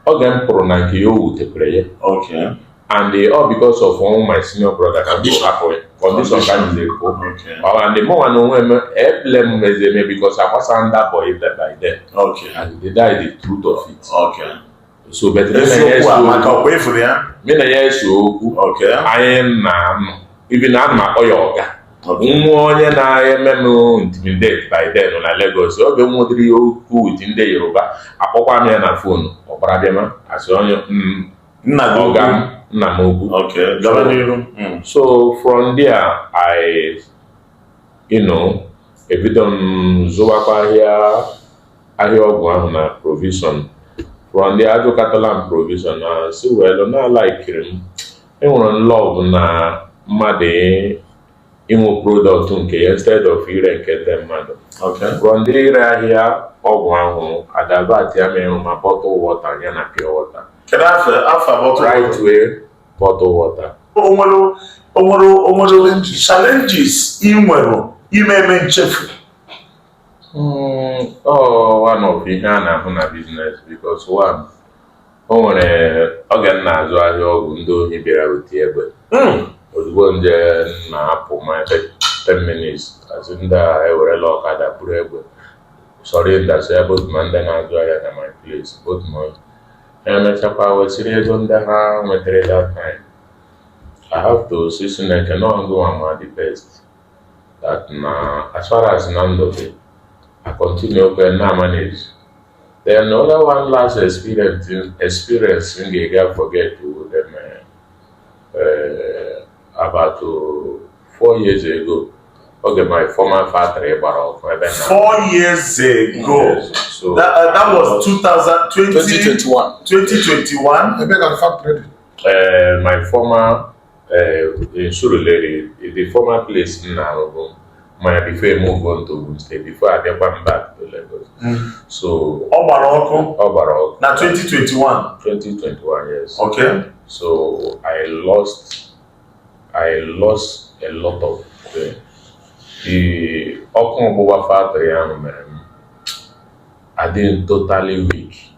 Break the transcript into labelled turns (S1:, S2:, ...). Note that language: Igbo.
S1: oge m pụrụ na nke ya o wutekwere ya Okay.
S2: and eh,
S1: all because of one my senior brother ka m Condition. hapụ ya condition ka m jiri pụọ Okay. Ọ and mụ nwa
S2: na onwe
S1: m blame mezi eme because I was under boy by then Okay. and that
S2: is the
S1: truth of it
S2: Okay. so but
S1: me na ya Eziokwu ese a maka okwu ọkwa efuru
S2: ya. me na ya ese
S1: okwu Okay. anyị
S2: na anụ
S1: even na ana m akpọ ya ọga nwa onye na-eme m intimidate by then na Lagos oge m nwedịrị ya okwu with ndị Yoruba akpọkwa m ya na phone ọ gbara bịa ma asị onye mm, nna gị ọga m nna m ukwu Okay, gaba n'iru.
S2: Mm. so
S1: from there I you know ebido m zụwakwa ahịa ahịa ọgwụ ahụ na provision from there azụkatala m provision na sị well na alaikiri m enwere love na mmadụ inwe product nke ya instead of ire nke ndị mmadụ from
S2: there ire ahịa
S1: ọgwụ ahụ adivertịa m ịrụ ma bottle water ya na pure
S2: water
S1: Rightway bottle water o
S2: nwere challenges ị nwere ị ma eme nchefu hmm,
S1: one of ihe a na-ahụ na business because one o nwere oge m na-azụ ahịa ọgwụ ndị ohi bịara with egbe hmm. ozugbo nje na-apụ maybe 10 minutes a sị ndị a ewerela ọkada buru egbe surroundasịa both ma ndị na-azụ ahịa na my place both ma emechakwa wesịrị ego ndị ha nwetara that time I have to sị Chineke na ọ gị nwa ma the best that na as far as na ndụ dị I continue kwa na manage then the other one last experience experience m gaghị forget to them uh, about uh, four years ago oge my former factory gbara ọkụ ebe na four
S2: years ago Yes, so that, uh,
S1: that was 2020 2021 2021
S3: Ebe ka factory dị? uh, my
S1: former Eh, in Surulere, the former place m na-arụbu mana before I move on to Ogun State before abịakwa m back to Lagos so ọ gbara ọkụ ọ gbara ọkụ na 2021 2021
S2: yes
S1: okay
S2: so
S1: I lost I lost a lot of the, the ọkụ ọgbụgba factory ahụ mere m ịdị totally weak